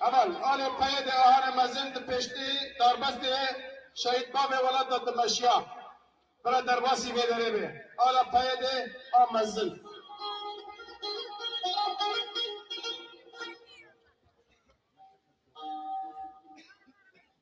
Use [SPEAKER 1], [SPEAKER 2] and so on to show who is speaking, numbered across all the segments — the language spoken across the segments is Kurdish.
[SPEAKER 1] Heval, alê peyê de ahane mezin di pêştî darbestê şehîd bavê welata dimeşiya. Bira derbasî vê derê be. Ala peyê de a mezin.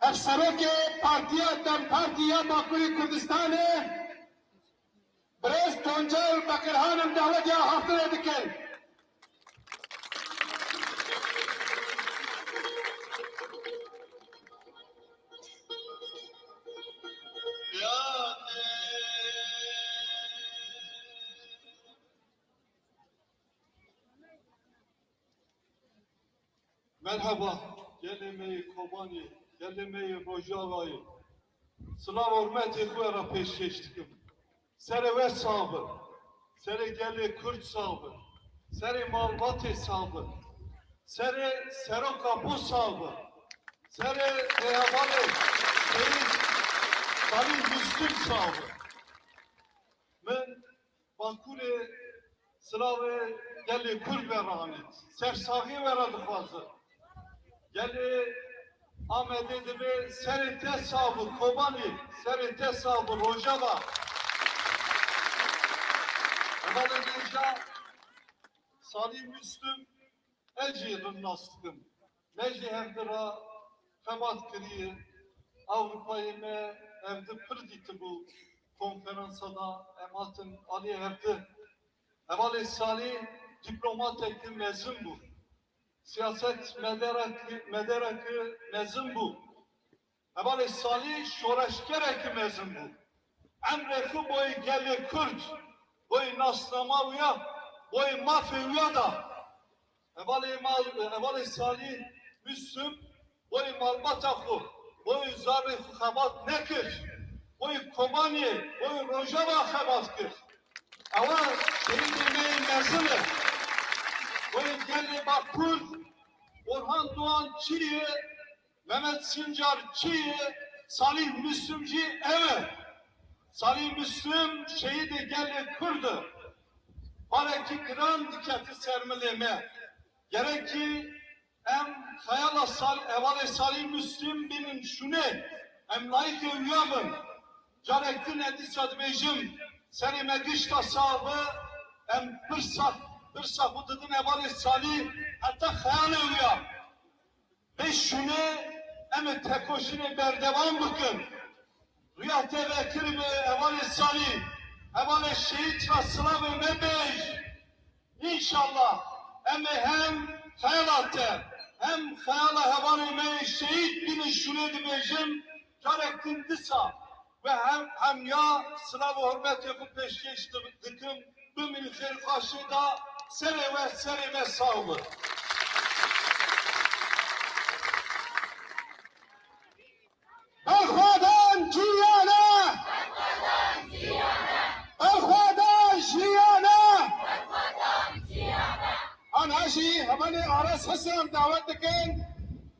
[SPEAKER 1] Hevserokê Partiya dem Partî ya Bakurê Kurdistanê Birêz Tuncel Bekirhanim dawetê axaftinê dikin.
[SPEAKER 2] Merheba gelê me yê Kobanê, gelê me yê Rojavayê. Silav hormetê xwe ra pêşkêş dikim. Serê we sax bi. Serê gelê Kurd sax bi. Serê malbatê sax bi. Serê Serok Apo sax bi. Serê Rêhevalê Seyîd Xalîl Mûslim sax bi. Min Bakurê silavê gelê Kurd ve re anî. Sersaxiyê we re dixwazin. Gelê Amedê divê serê te sax bi, Kobanî serê te sax bi, Rojava. Hevalê Nêja Salî Mûslim ez jî rin nas dikim. Me jî hevdi re xebat kiriye. Ewropayê me hevdi pir dîtibû. Konferansa de em hatin aliyê hevdi. Hevalê Salî dîplomateke mezin bû. Siyaset medereke mezin bû. Hevalê Salî şoreşgerekî mezin bû. Emrê xwe boyê gelê Kurd, boyê nasnama wî ya, boyê mafê wî ya da. Hevalê Salî Mûslûm boyê malbata xwe, boyê zarê xwe xebat nekir. Boyê Kobaniyê, boyê Rojava xebat kir. Ewa şehîdê me yê mezin e. Boyê gelê ma Kurd Orhan Doğan çî yê Memed Sincar kî ye? Salîh Mislum jî ew e. Salîh Mislum şehîdê gelê Kurd e. Barekî giran dikete ser milê me. Gerekî em xeyala hevalê Salîh Mislum bînin şûnê. Em layîqê wiya bin. Carek din ez dîsa dibêjim, serê me gişta sax be, em pirsa pirsa xwe didin hevalê Salîh heta xeyalê wiya. Bişûne em ê tekoşînê berdewam bikin. Rûya te vekiribe hevalê salî, hevalê şehîd re silavê me bêj. Înşallah em ê hem xeyala te hem xeyala hevalê me yê şehîd bînin şûnê dibêjin carek din disa Bi hemya silav û hurmetê xwe pêşkêş dikim, bimînin xêrxwaşê da serê we, serê me sağ bi.
[SPEAKER 1] Berxwedan cîyane! Berxwedan jîyane! Aniha jî hevalê Aras Hesen dawet dikin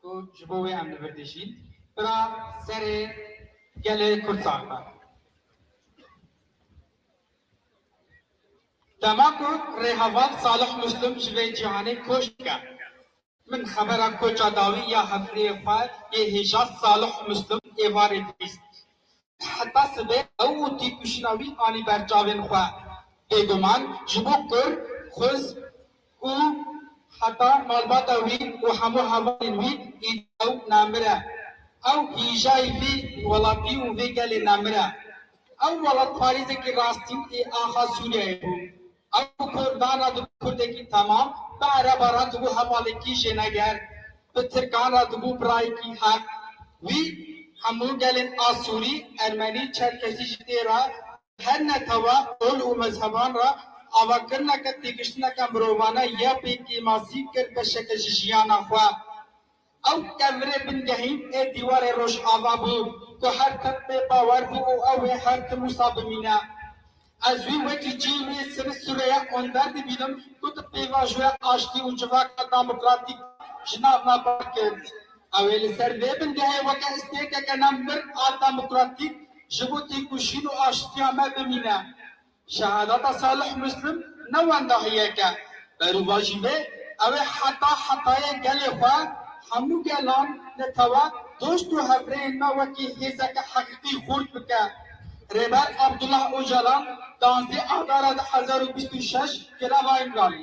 [SPEAKER 3] Ku ji bo wê em li vir dijîn, bira serê gelê Kurd sar be. Dema ku rêheval Salih Muslim ji vê cîhanê koç dike, min xebera koça dawî ya hevpirêyê xwe yê hêja Salih Muslim êvarê bîst. Heta sibê ew û têkoşîna wî anî ber çavên xwe. Bêguman ji bo kur, xwez û heta malbata wî û hemû hevalên wî îdî ew nemir e. Ew hîjayî vê welatî û vê gelê nemir e. Ew welatparêzekî rastîn ê axa Sûriyeyê bû. Ew kur dan re dibû kurdekî temam, bi ereba re dibû hevalekî jêneger, bi tirkan re dibû birayekî heq. Wî hemû gelên Asûrî, Ermenî, Çerkesî ji tê re her netewe, ol û mezheban re avakirineke têgiştineke mirovane ya pêkêmasî kir beşeke ji jiyana xwe. Ew demirê bingehî ê dîwarê Rojava bû ku her tim pê bawer bû û ew ê her tim wisa bimîne. Ez wî wekî cî wê serê sûreya onder dibînim ku di pêvajoya aştî û civaka demokratîk ji nav nabar kir. Ew ê li ser vê bingehê weke îstêkeke ne mir a demokratîk ji bo têkoşîn û aştiya me bimîne. Şehadeta Salih Muslim ne wendahiyek e, berûvajî wê ew ê heta hetayê gelê xwe, hemû gelan, netewe, dost û hevrêyên me wekî hêzeke heqîqî xurt bike. Rêber Abdullah Ocalan, duwazdeh Adara du hezar û bîst û şeş, greva îmralî.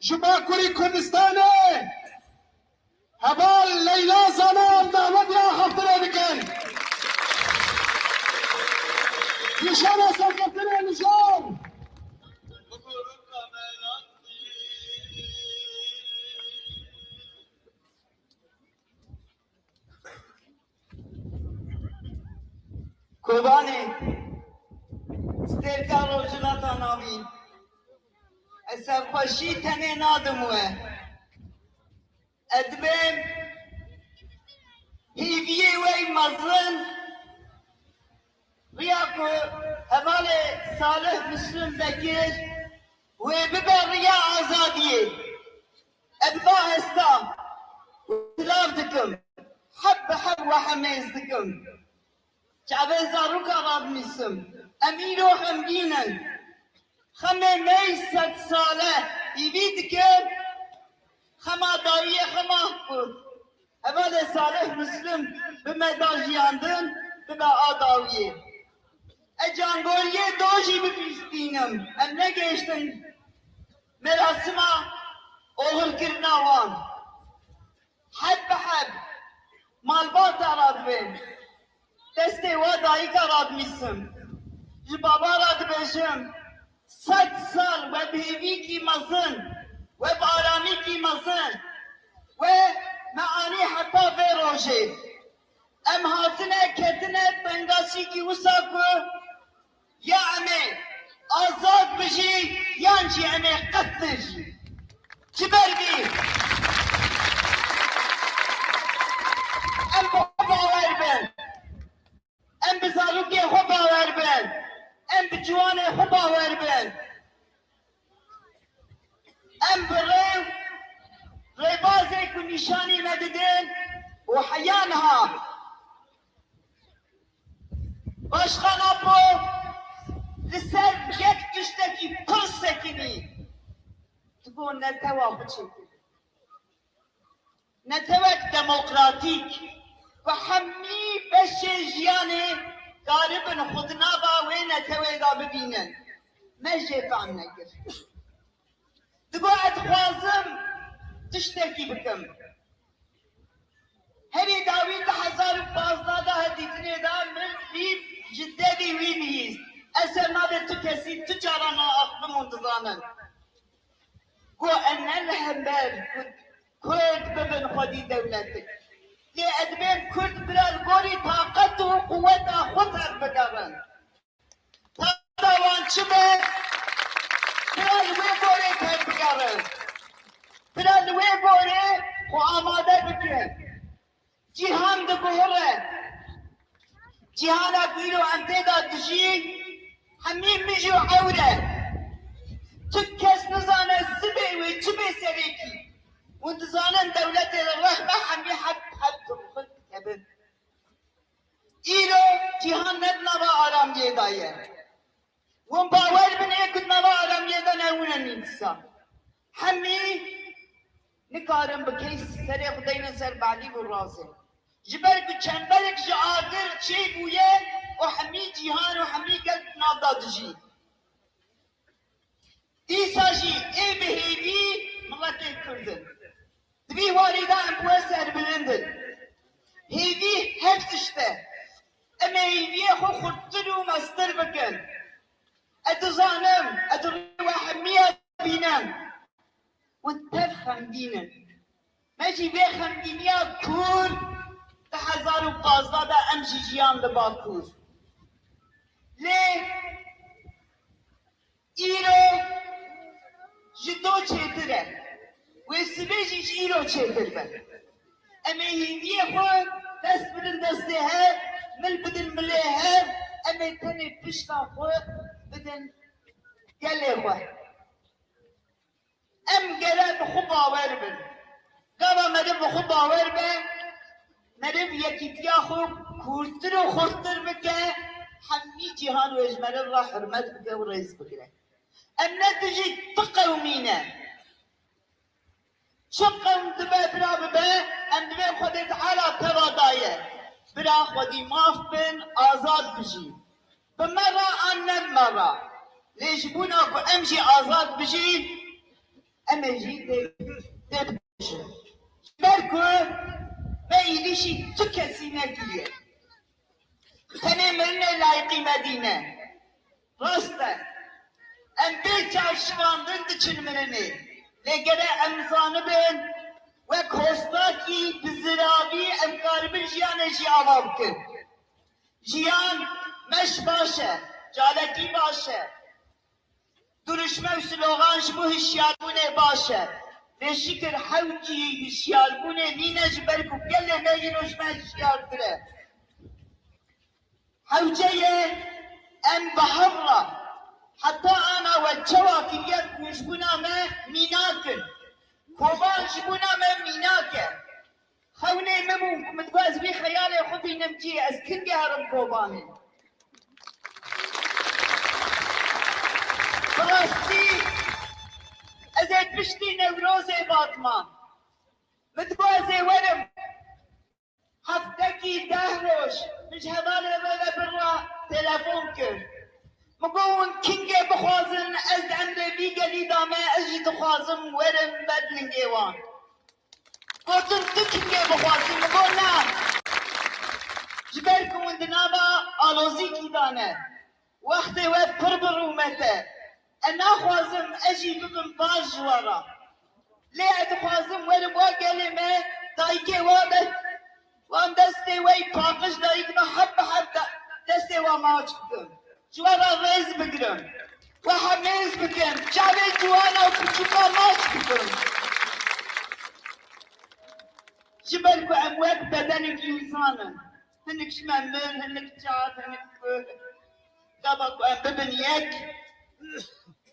[SPEAKER 1] Ji Bakurê Kurdistanê heval Leyla Zanan dawetê axaftinê dikin. Nîşana serkeftinê mijar.
[SPEAKER 4] Kobanê, stêrka Rojhilata Navîn ez serxweşî tenê nadim we. Ez dibêm hêviyê wey mezin riya ku hevalê Salih Muslim Bekir wê bibe riya azadiyê. Ez va hesta silav dikim, heb bi heb we hemêz dikim. Çavên zarokan radinîsim, em îro xemgîn in. Xemê mey sed sale hîvî dikim, xema dayîyê xwe mah kut. Hevalê Salih Muslim bi me da jiyandin, dibe a dawîyê. Ez cangorîyê dojî bibîstînim, em negêştin. Merasima oxirkirina wan heb bi heb malbata re dibe. Destê we dayika re dinîsim, ji baba re dibêjim sed sal we bi hêvîkî mezin, we bi aramîkî mezin we me anî heta vê rojê. Em hatine ketine tengaşîkî wisa ku Ya em ê azad bijî yan jî em ê qet nejî. Ji ber vî em bi xwe bawer bin, em bi zarokê xwe bawer bin, em bi ciwanê xwe bawer bin, em bi rêw rêbazê ku nîşanî me didin û heya niha Başkan Apo li ser yek tiştekî pir sekinî di bo netewa xwe çêkir. Netewek demokratîk ku hemî beşê jiyanê karibin xwe di nava wê netewê de bibînin me jê fehm nekir. Di bo ez dixwazim tiştekî bikim. Herî dawî di hezar û pazdeh de hevdîtinê de min fîl ji devî wî bihîst. Ez ser navê tu kesî tu caran naaxivim hûn dizanin ku em ne li hember ku kurd bibin xwedî dewletik. Lê ez dibêjim kurd bira li gorî taqet û quweta xwe tev bigerin. Wada wan çi be, pira li wê gorê tevbigerin, pira li wê gorê xwe amade bikin. Cîhan diguhire. Cîhana ku îro em tê de dijîn hemî mij û ewr e. Tu kes nizane sibê wê çi bê serekî. Hûn dizanin dewletê li rex be hemî heft heft rûxin dikevin. Îro cîhan ne di nava aramiyê de ye. Hûn bawer bin ê ku di nava aramiyê de ne hûn in dîsa. Hemî nikarin bi keys serê xwe deynin ser Belîv û Razê. Ji ber ku çemberek ji agir çêbûye û hemî cîhan û hemî gel di nav de dijî. Dîsa jî ê bi hêvî miletên Kurd in. Di vî warî de em bi we serbilind in. Hêvî her tişt e. Em ê hêviyê xwe xurttir û meztir bikin. Ez dizanim ez rê we hemiya bînim. We tev xemgîn in. Me jî vê xemgîniya kûr di hezar û pazdeh de em jî jiyan li Bakur. Lê îro ji do çêtir e. Wê sibê jî ji îro çêtir be. Em ê hêviyê xwe dest bidin destê hev, mil bidin milê hev, em ê tenê pişta xwe bidin gelê xwe. Em gere bi xwe bawer bin. Gava meriv bi xwe bawer be, meriv yekîtiya xwe kûrtir û xurttir bike, hemî cîhan wê ji meriv re hurmet bike û rêz bigire. Em ne dijî tu qewmî ne. Çi qewm dibe bira bibe, em divê Xwedê Teala teva daye. Bira xwedî maf bin, azad bijîn. Bi me re an ne bi me re, lê ji bona ku em jî azad bijîn, em ê jî têbikoşin. Ji ber ku me îlîşî tu kesî nekiriye, tenê mirinê layiqî me dîne. Rast e, em bê çavşivandin diçin mirinê, lê gere em zanibin wek hostakî bi ziravî em karibin jiyanê jî ava bikin. Jiyan meş baş e, caletî baş e, dirûşme û silogan ji bo hişyarbûnê baş e. Lê şikir hewcî hişyarbûnê nîne ji ber ku gelê me îro ji me hişyartir e. Hewce ye em bi hev re heta ana we çawa kiriye ku ji bûna me mînak in. Kovan ji bûna me mînak e. Xewnê min bû ku min dixwest vî xeyalê xwe bînim cî ez kin diyarim Kobanê. Bi rastî ez ê piştî Newrozê Batma min dixwazê werim heftekî deh roj min ji hevalê re ve bin re telefon kir min got hûn kingê bixwazin ez di emrê vî gelî de me ez jî dixwazim werim ber lingê wan. Gotin tu çingê bixwazî min got na. Ji ber ku min di nava alozîkî de ne. Wextê we pir bi rûmet e. Ez naxwazim ez jî bibim baş ji we re. Lê ez dixwazim werim wa gelê me dayikê we be. Wan destê we yî paqij dayîk me hev bi hev destê wan maç bikin, ji we re rêz bigirin, we hev hêz bikin, çavên ciwan û pirtûkan maç bikin. Ji ber ku em wek bedenek însan in, hinek ji me mir, hinek çav, hinek kûr. Gava ku em bibin yek,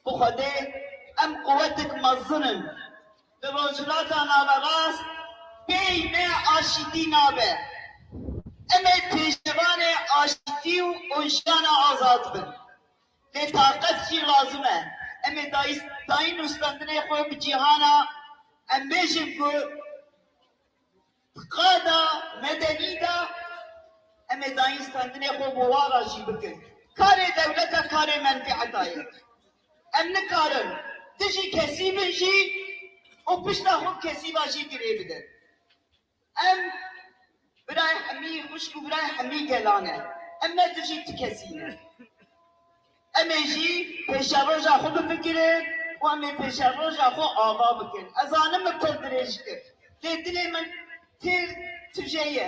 [SPEAKER 4] bi Xwedê em quwetek mezin in. Li Rojhilata Naverast pey ne aşîtî nabe. Em ê pêşevanê aşîtî û jiyana azad bin. Lê taqet jî lazim e. Em ê dayîn nûstandinê xwe bi cîhana em bêjin ku di qada medenî de em ê dayîn standinê xwe bi wara jî bikin. Karê dewleta karê menfîeta ye. Em nikarin dijî kesî bin jî û pişta xwe bi kesî ve jî girê bidin. Em birayê hemî xwişk û birayê hemî gelan e. Em ne dijî ti kesî ne. Em ê jî pêşeroja xwe bifikirin û em ê pêşeroja xwe ava bikin. Ez zanim min pir dirêj kir lê dilê min pir tije ye.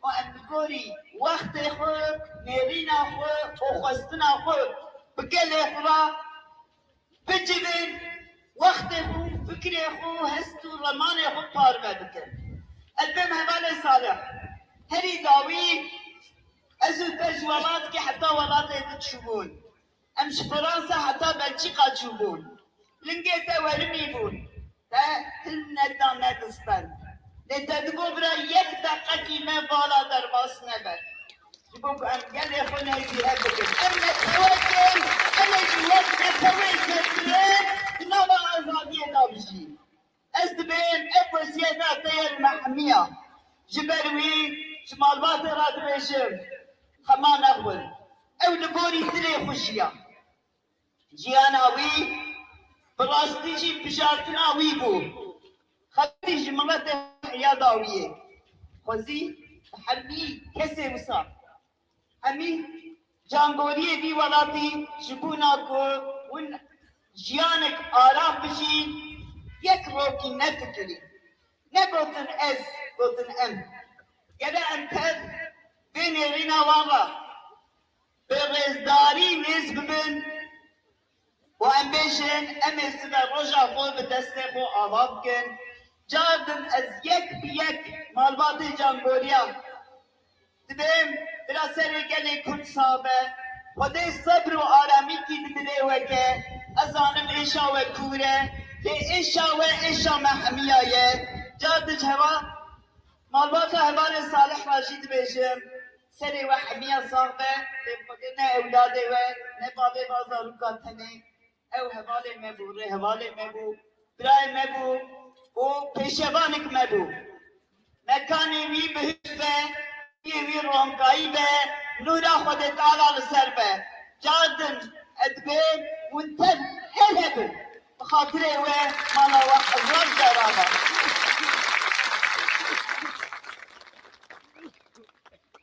[SPEAKER 4] Ku em bi gorî wextê xwe, nêrîna xwe, xwexwestina xwe bi gelê xwe re bicivin, wextê xwe û fikirê xwe, hest û remanê xwe parve bikin. Ez bên hevalên salih. Herî dawî ez û te ji welatikê heta welatê din çûbûn. Em ji Fransa heta Belçîka çûbûn. Lingê te werimî bûn. Te hilm neda ne dispend. Lê te digot bira yek deqekî me bala derbas nebe. Ji bo ku em gelê xwe nêzîhe bikin. Em netewek in. Em ê ji wek netewên kevgirê di nava azadiyê de bijîn. Ez dibêjim ev weziyeta te ye li me hemiya. Ji ber wî ji malbatê re dibêjim hema nexwin. Ew li gorî dilê xwe jiya. Jiyana wî bi rastî jî bijartina wî bû. Xelkî ji miletê heya da wî yê. Xwezî bi herî kesê wisa. Hemî camboriyê vî welatî ji bûna ku hûn jiyanek aram bijîn yek rokî ne fikirîn, ne gotin ez, gotin em. Gele em tev bê nêrîna wan re bi rêzdarî nêz bibin. Ku em bêjin em ê sibe roja xwe bi destê xwe ava bikin, car din ez yek bi yek malbatê Cangoriya dibêm, bila serê gelê Kurd sax be. Xwedê sebr û aramîkî di dilê we ke, ez zanim êşa we kûr e, lê êşa we êşa me hemiya ye. Car dic heva malbata hevalê Salih ra jî dibêjim, Serê we hemiya sax be, lê Xwedê ne ewladê we, ne bavê van zarûkan tenê. Ew hevalê me bû, rêhevalê me bû, birayê me bû û pêşevanik me bû. Mekanê wî bihişt be, rûyê wî ronkayî be, nûra Xwedê Teala li ser be. Car din ez dibê hûn tev hel hebin. Bi xatirê we mala we hezar caran e.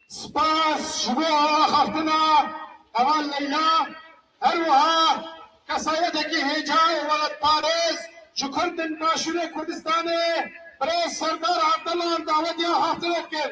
[SPEAKER 1] Spas ji bo axaftina heval Leyla, her wiha kesayetekî hêja û welatparêz ji Kurd in Başûrê Kurdistanê Birêz Serdar Evdelan dawetî axaftinê dikin.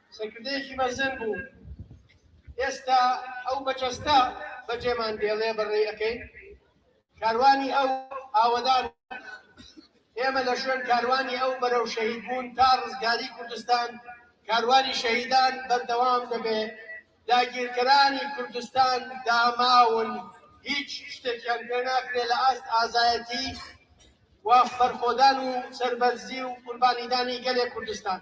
[SPEAKER 1] Serkirdeyekî mezin bû. Êsta ew bi cesta becêman dêlê bi rê ekeyn. Karwanî ew awedan e. Ême li şûn karwanî ew berew şehîdbûn ta rizgarî Kurdistan karwanî şehîdan berdewam dibe. Dagîrkiranî Kurdistan damaw in. Hîç tiştekîyan pê nakire li ast azayetî û berxwedan û serberzî û qurbanîdanî gelê Kurdistan.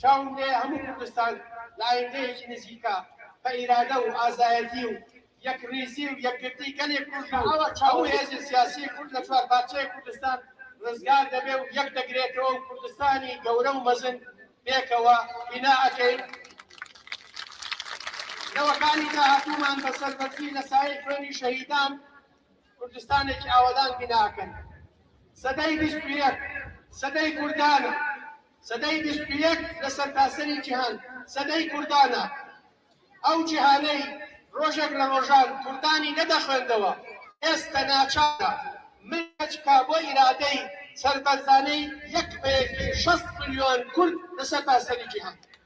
[SPEAKER 1] Çawên dê hemû Kurdistan li ayîndeyekî nizîk a xwe îrade û azayetî û yekrîzî û yekgirtî gelê Kurd û hemû hêzên siyasî Kurd li çar parçeyê Kurdistan rizgar debe û yek digirêt'ewe û Kurdistanî gewre û mezin pêkewa bîna ekein. Li wekarî dahatûman bi serberzî li sayê xwênî şehîdan, Kurdistanekî awedan bîna akin. Sedeyî bîst û yek sedeyî kurdan e. Sedeyî bîst û yek li sertaserî cîhan sedeyî kurdan e. Ew cîhaneyî rojek li rojan kurdanî nede xwendewa. Kes te naçar e. Min keçika bo îradeyî serberzaneyî yek peyekî şest milyon kurd li sertaserî cîhan.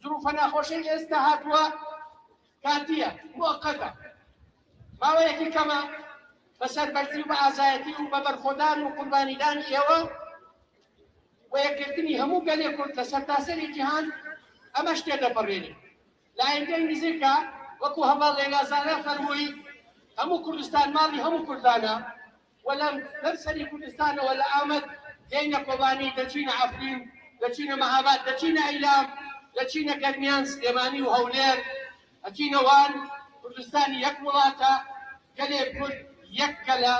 [SPEAKER 1] Zirûfa nexweşê êsta hatwa katiye, mueqqete. Maweyekî keme bi serberzî û bi azayetî û bi berxwedan û qurbanîdanê êwa û yekgirtinî hemû gelê kurd li sertaserê cîhan em eş tê deperêne. Layîkeyî nizîk a wekû heval Leyla Zahra fermûyî, Hemû Kurdistan malî hemû kurdan a. Wele ber serî Kurdistane wele Amed têne Kobanî, deçîne Efrîn, deçîne Mehabat, deçîne Eylam, deçîne Germiyan, Silêmanî û Hewlêr, etîne Wan. Kurdistan yek wilat e, gelê Kurd yek gel e.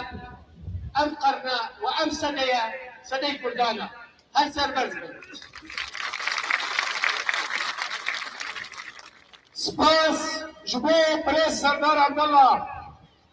[SPEAKER 1] Ev qerne û ev sedeye sedey Kurdan e. Her serberz bin. Spas ji
[SPEAKER 5] bo Birêz Serdar Abdullah.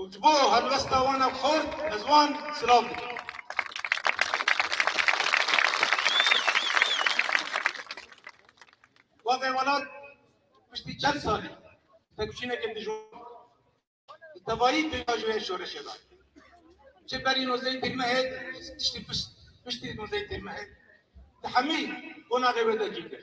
[SPEAKER 2] û ji bo helwesta wan a xurt ez wan silav dikim. Bavê welat piştî çend salî têkoşîneke dijwar bi tevayî pêka ji wê şoreşê da. Ji berî nozeyî têrmehê tiştî piştî nozeyî têrmehê di hemî qonaxê wê de cî kir.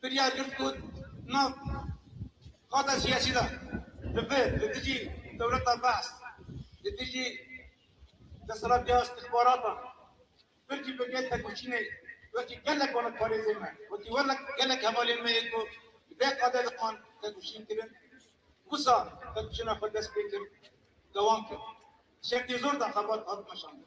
[SPEAKER 2] Biryar girt ku nav xata siyasî de li vir li dijî dewleta Baas, li dijî desthilatiya îstixbaratan, pir jî pir tekoşînê wekî gelek were parêzên me, wekî gelek hevalên me yên ku li vê qadê de wan tekoşîn kirin, wisa tekoşîna xwe dest pê kir, dewam kir. Di şertê zor de xebat hat meşandin.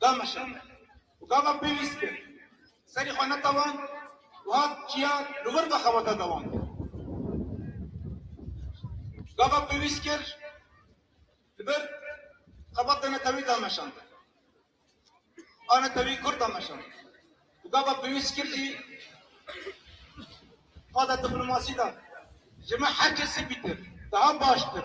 [SPEAKER 2] Dameşa û gava pêwîst kir, serî xwe netewand û hat çiya li wir ve xeweta dewam bike. Gava pêwîst kir li vir xeweta netewî dameşand. A netewî kurd dameşand û gava pêwîst kir jî qada diplomasî da ji me her kesî bîtir daha baştir.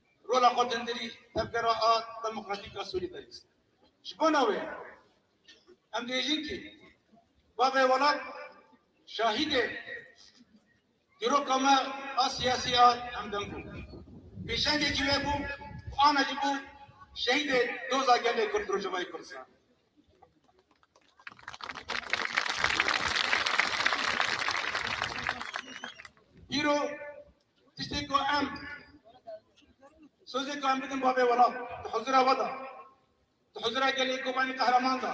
[SPEAKER 2] Rola xwe din dirî tevgera a demokratîk a solîdarîst e. Ji bona wê em dibêjin kî bavê welat şahîdê dîroka me a siyasî a hemdem bû. Pêşengekî wê bû û ana jî bû şehîdê doza gelê Kurd li Rojavayê Kurdistan. Îro Tiştê ku em sozê ku em bidin bavê welat di huzura we da, di huzura gelê Kobanî Qehreman da.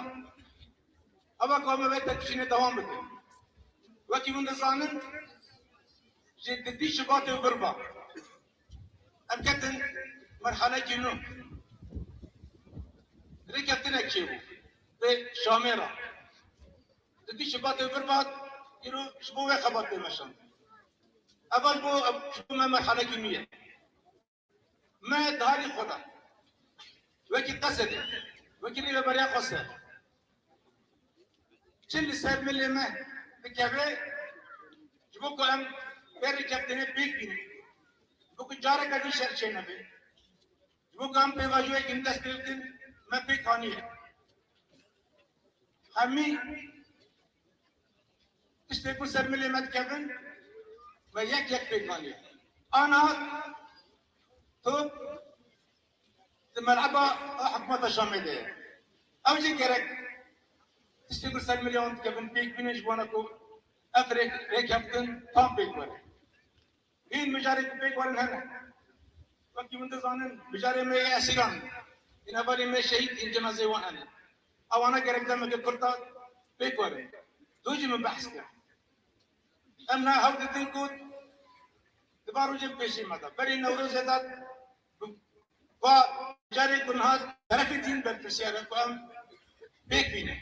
[SPEAKER 2] Hava ku em vê tepişînê dewam bikin. Wekî hûn dizanin ji di bî Şubatê û vir ba em ketin merhalekî nû. Rêkeftinek çêbû vê şamê ra. Di bî Şubatê û vir ba îro ji bo wê xebat tê meşandin. Eval bo ji bo me merhalekî nû ye. Me di halî xwe de wekî qesedê, wekî rêveberiya xwe ser çi li ser milê me dikeve ji bo ku em vê rêkeftinê pêk bînin, ji bo ku careke din şer çênebe, ji bo ku em pêvajoyekî din dest pê bikin me pêk anîye. Hemî Tiştê ku ser milê me dikevin me yek yek pêk anî. Ana tu di meleba hikûmeta Şamê de ye. Ew jî gerek tiştê ku ser milê wan dikevin pêk bînin ji wana ku ev rêkeftin tam pêk were. Hîn mijarê ku pêk werin hene. Wekî min dizanin mijarê me yê esîran in. Hîn hevalên me şehîd hîn cenazeyê wan hene. Ewana gerek demeke kurt da pêk werin. Dû jî min behs kir. Em niha hewl didin ku di van rojên bi pêşî me de berê Newrozê de bi va mijarê ku niha terefê din berpirsyar e ku em pêk bînin.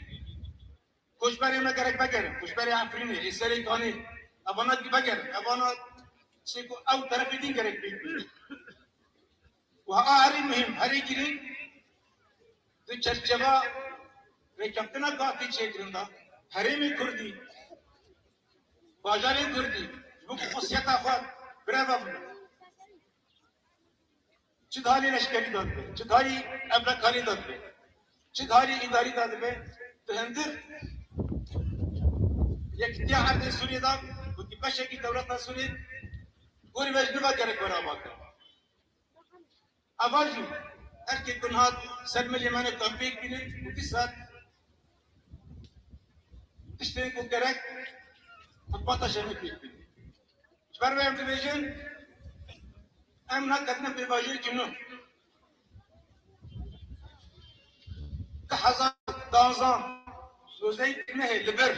[SPEAKER 2] Koçberê me gerek vegerin, koçberê Efrînê, ê serê Kanê, evana dî vegerin, evana çê ku ew terefê din gerek pêk bînin. Û a herî muhîm, herî girîng di çerçeva rêkeftina ku a tê çêkirin de, herêmê kurdî, bajarên kurdî ji bo ku xwesiyeta xwe birevebin. Çi karî leşkerî de dibe, çi karî emrekarî de dibe, çi karî îdarî de dibe bi hundir Yekîtiya Erdê Sûriyê de wekî beşekî dewleta Sûriyê gorî me ji niva gerek were ava kirin. Eva jî erkê ku niha ser milê me ne tam pêk bînin û dîsal Tiştê ku gerek xizmeta şerî pêk bidî. Ji ber vê em dibêjin em neketinê pêvajoyekî nû. Di hezar û duwazdeh Rojeyê Kirmehê li vir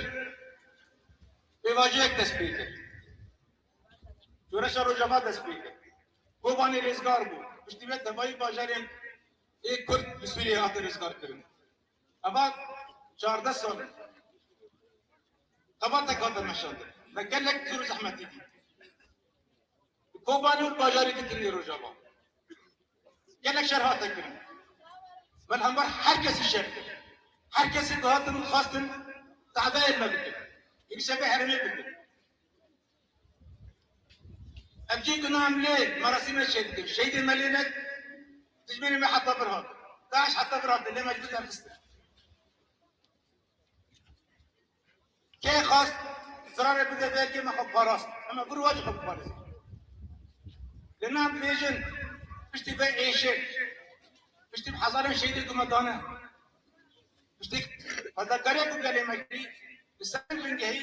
[SPEAKER 2] pêvajoyek dest pê kir. Şoreşa Rojava dest pê kir. Kobanê rêzgar bû. Piştî vê tevayî bajarên ê Kurd li Sûriyeyê hate rêzgarkirin. Eva çardeh sal e. Xebatek hate meşandin. Me gelek zor û zehmetî dît. Di Kobanê û bajarî ditirî Rojava. Gelek şer hate kirin. Min hember her kesî şer kir. Her kesî dihatin û dixwestin tehdayên me bikin. Hêvîseke herêmê bikin. Ev cî gunah em lê merasîm ne çê dikin. Şehîdên me lê ne dijminên me heta vir hatin. Daîş heta vir hate lê me ji vir derxistin. Kê xwest zirarê bide vê yekê me xwe parast. Em ê vir û wecî xwe biparêzin. Lê na em dibêjin piştî vê êşê, piştî bi hezarên şehîdê ku me dane, piştî fedakariyê ku gelê me kir li ser vê bingehî,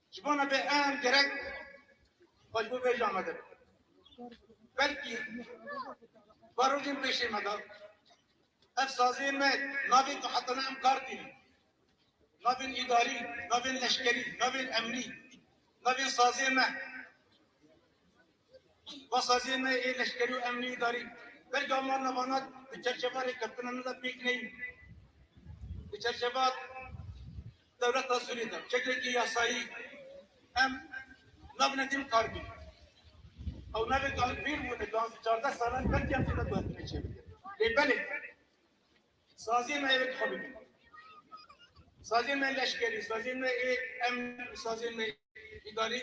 [SPEAKER 2] Ji bo nebe em gerek xwe ji bo vê jî amade bin. Belkî barojên pêşê me de ev saziyên me navê ku heta niha em kar tînin. Navên îdarî, navên leşkerî, navên emnî, navên saziyên me. Va saziyên me ê leşkerî û emnî îdarî belkî wan navana di çerçeva rêkeftina me de pêk neyîn. Di çerçeva Dewleta Sûrî de çekekî yasayî em nabine dîm kar bî. Ew navê Gan Pîr bûne, gan zî çardeh salan belkî em têde guhtinê çêbike. Lê belê saziyên me êvê dixwe bibînin. Saziyên me leşkerî, saziyên me ê emnî û saziyên me îdarî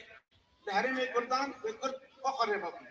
[SPEAKER 2] li herêmê kurdan wê kurd xwe xwe rêva bine.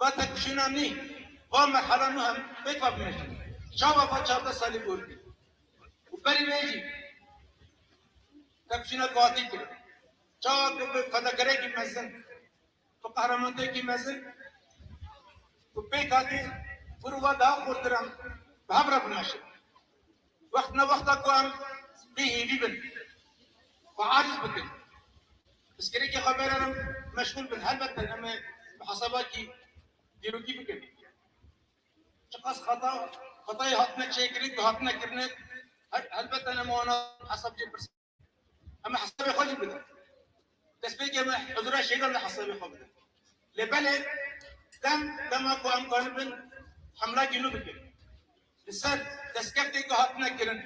[SPEAKER 2] Va tek jina nî, va merhala nû hem pêk va bimeşin. Çawa va çardeh salî bor bî û berî wê jî tevjîna guhatî kir. Çawa ku bi fedakerekî mezin, bi qehremantiekî mezin ku pêk hatî, vir û va daha xurtiran bi hev re bimeşin. Wext ne wexta ku em dê hêvî bin xwe aciz bikin, pirsgirêkê xwe bêrin û meşgûl bin. Helbete em ê mihasebakî dîrokî bikin. Çiqas xeta xetayê hatine çêkirin ku hatine kirine helbete em wana hesab jê pirsin. Em hesabê xwe jî bidin. Destpêkê me huzura şêgan li hesabê xwe bidin. Lê belê dem dema ku em ganibin hemla gînû bikin. Li ser destkeftên ku hatine kirin,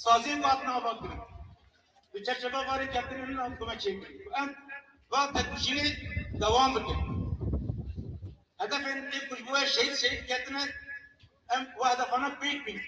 [SPEAKER 2] saziyên ku hatine avakirin, li çerçeva varê kevtinê min em xwe çêkirin ku em va têkoşînê dewam bikin. Hedefên ê ku ji bo wê şehîd şehîd ketine em wa hedefana pêk bînin.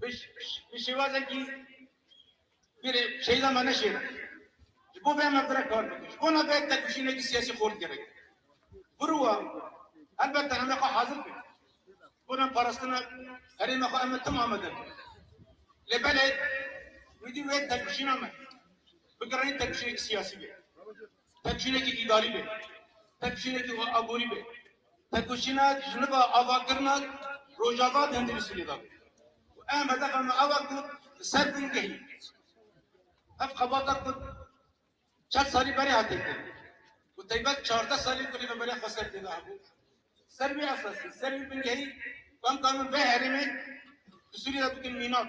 [SPEAKER 2] Bi şêwazekî bir şeyda me neşêne. Ji bo vê me bire kar bikin. Ji bona vê tevkişînekî siyasî xort gerek. Biruwa elbette em ê xwe hazir bikin. Ji bona parastina herêma xwe em ê tim amade bin. Lê belê wî dî wê tevkişîna me bigiranî tevkişînekî siyasî be. Pevjînekî îdarî be, pevjînekî xwe aborî be, pevjînek ji niva avakirinek Rojava bi Hindînistî lêda be û em hedefa me ew e ku li ser bingehîn ev xebata ku çend salî berê hate kirin û teybet çardeh salî ku Rêveberiya Xweser tê de hebû, ser vê esasî, ser vê bingehî, bimkarin vê herêmê li Sûriyê de bikin mînak.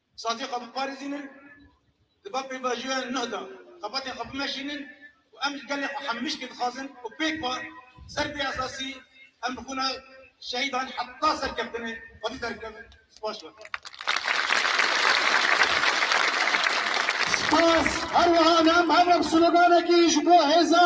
[SPEAKER 2] Sazê xwe biparêzînin, di ber pêvajoya nuh de xebatên xwe bimeşînin û em ji gelê xwe hemmişkê dixwazin ku pêk be ser vê esasî em bi xwîna şehîdan heta serkeftinê xwedî derkevin. Spas be.
[SPEAKER 5] Spas, her wiha em hev sloganekî ji bo hêza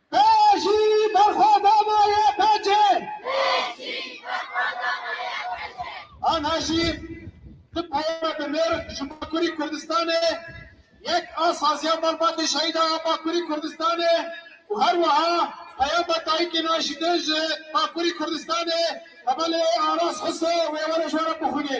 [SPEAKER 5] Pêşî berxwedana YPG! Pêşî berxwedana YPG! Aniha jî di peyama bi mêrg ji Bakurî Kurdistanê yek a saziya malbatê şehîdan ya Bakurî Kurdistanê û her wiha peyama dayikê naşîtin ji Bakurî Kurdistanê Temelê Aras Huso wê were ji we re bixwînê.